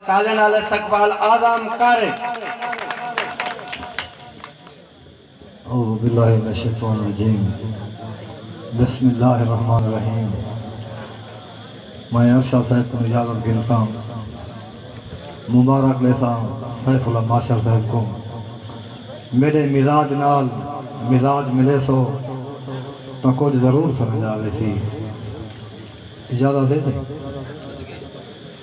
تالیں نال استقبال اعظم کر۔ اعوذباللہ من الشیطان الرجیم بسم اللہ الرحمن الرحیم میں ارشد صاحب کوں اجازت گھنساں مبارک ڈیساں سیف اللہ ماشر صاحب کوں میڈے مزاج نال مزاج ملے سو تاں کجھ ضرور سمجھ آویسی اجازت ہے سائیں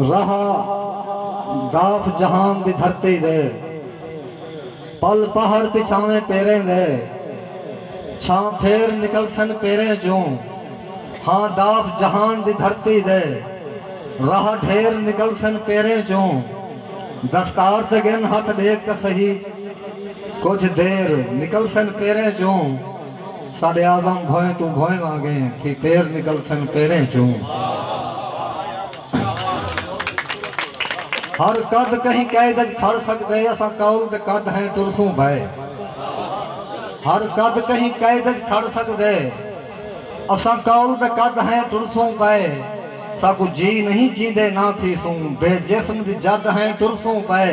رہا گاف جہان دی دھرتی دے پل پہاڑ پچھاویں پیریں دے چھاں پھیر نکلسن پیریں چوں ہاں داف جہان دی دھرتی دے رہا ڈھیر نکلسن پیریں چوں دستار تے گھن ہتھ ڈیکھ تاں سہی کجھ دیر نکلسن پیریں چوں ساڈے اعظم بھوئیں توں بھوئیں وانگے تھی پیر نکلسن پیریں چوں ہر قد کہیں قید اچ کھڑ سکدے اساں قول دے قد ہیں ٹرسوں بھئے ہر قد کہیں قید اچ کھڑ سکدے اساں قول دے قد ہیں ٹرسوں پئے ساکوں جی نہیں چیندے نہ تھیسوں بے جسم دی جد ہیں ٹرسوں پئے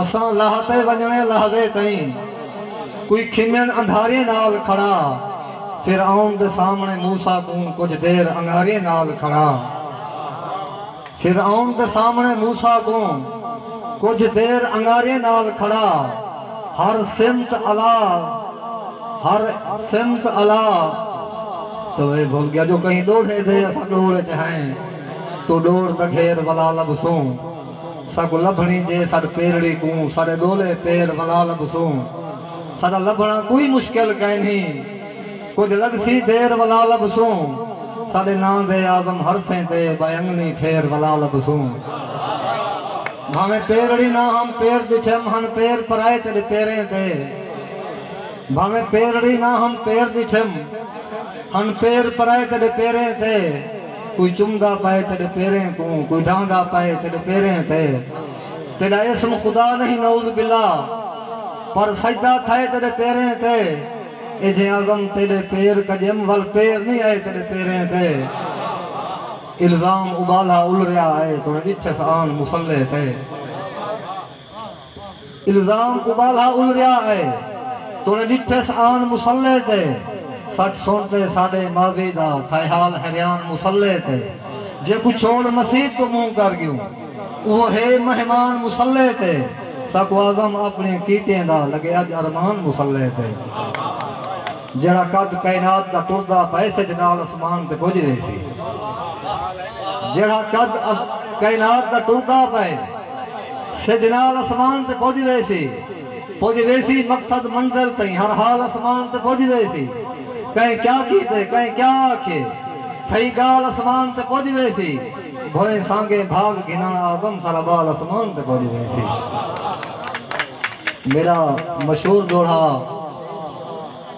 اساں لہہ تے ونجنڑے لہزے تئیں کوئی کھمین اندھاریں نال کھڑا فرعون دے سامنڑے موسی کوں کجھ دیر انگاریں نال کھڑا فرعون دے سامنڑے موسی کوں کجھ دیر انگاریں نال کھڑا ہر سمت الا ہر سمت الا چلو اے بھول گیا جو کہیں ڈوڑھے دے اساں ڈوڑ اچ ہیں تو ڈوڑ تاں گھیر ولا لبسوں ساکوں لبھنڑیں جے ساڈ پیرڑی کوں ساڈے ڈولے پیر ولا لبھسوں ساڈا لبھنڑاں کوئی مشکل کائنی کجھ لگسی دیر ولا لبھسوں ساڈے ناں دے اعظم حرفیں تے بائنگنی پھیر ولا لبھسوں بھانویں پیرڑی نہ ہم پیر ڈٹھم ہن پیر پرائے تیڈے پیریں تے بھانویں پیرڑی نہ ہم پیر ڈٹھم ہن پیر پرائے تیڈے پیریں تے۔ کوئی چمدا پئے تیڈے پیریں کوں کوئی ڈاندا پئے تیڈے پیریں تے تیڈا اسم خدا نہیں نعوذ باللہ پر سجدہ تھئے تیڈے پیریں تے اے جے اعظم تیڈے پیر کجم ول پیر نہیں ائے تیڈے پیریں تے الزام ابالہ الریا ائے توں ڈٹھس آن مصلی تے۔ الزام ابالھا الریا اے۔ تونے ڈٹھس آن مصلے تے۔ سچ سن تے ساڈے ماضی دا تھائیحال ہریان مصلے تے۔ جے کو چھوڑ مسیت توں منہ کر گیوں۔ اوہ ہے مہمان مصلے تے۔ ساکوں اعظم اپنی کیتیں دا لگے اج ارمان مصلے تے۔ جیڑھا قد کائنات دا ٹردا پئے سج نال اسمان تے پج ویسی۔ جیڑھا قد کائنات دا ٹردا پئے۔ سجھ نال اسمان تے پج ویسی پج ویسی مقصد منزل تئیں ہر حال اسمان تے پج ویسی کہیں کیا کیتے کہیں کیا آکھیے تھئی گال اسمان تے پج ویسی بھوئیں سانگے بھاگ گھنن آدم سارا بال اسمان تے پج ویسی میرا مشہور دوہڑا۔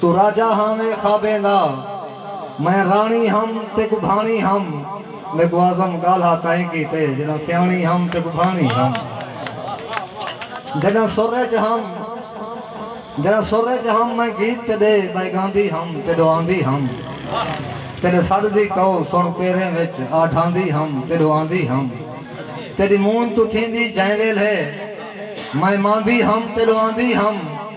توں راجہ ہاویں خوابیں دا میں راݨی ہم تیکوں بھاݨی ہم میکوں اعظم ڳالھا تائیں کیتے جݙاں سیاݨی ہم تیکوں بھاݨی ہم جݙاں سر اچ ہم جݙاں سر اچ ہم میں گیت تیݙے ٻئے ڳاندی ہم تیݙو آندی ہم تیݙے سݙ دی کئو سݨ پیریں وچ آ ڈھاندی ہم تیݙو آندی ہم تیݙی مونجھ توں تھیندی جئیں ویلھے میں ماندی ہم تیݙو آندی ہم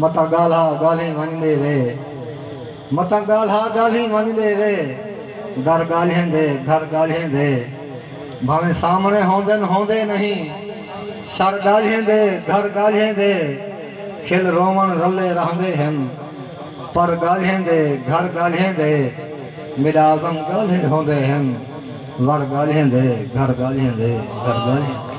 متاں ڳالھا ڳالھیں ونڄ دے وے متاں ڳالھا ڳالھیں ونڄ دے وے در ڳالھیں دے گھر ڳالھیں دے بھاویں سامݨے ہوندن ہوندے نہیں شر ڳالھیں دے گھر ڳالھیں دے کھل رووݨ رلے رہندے ہن پر ڳالھیں دے گھر ڳالھیں دے میݙا عزم ڳالھے ہوندے ہن ور ڳالھیں دے گھر ڳالھیں دے گھر ڳالھیں دے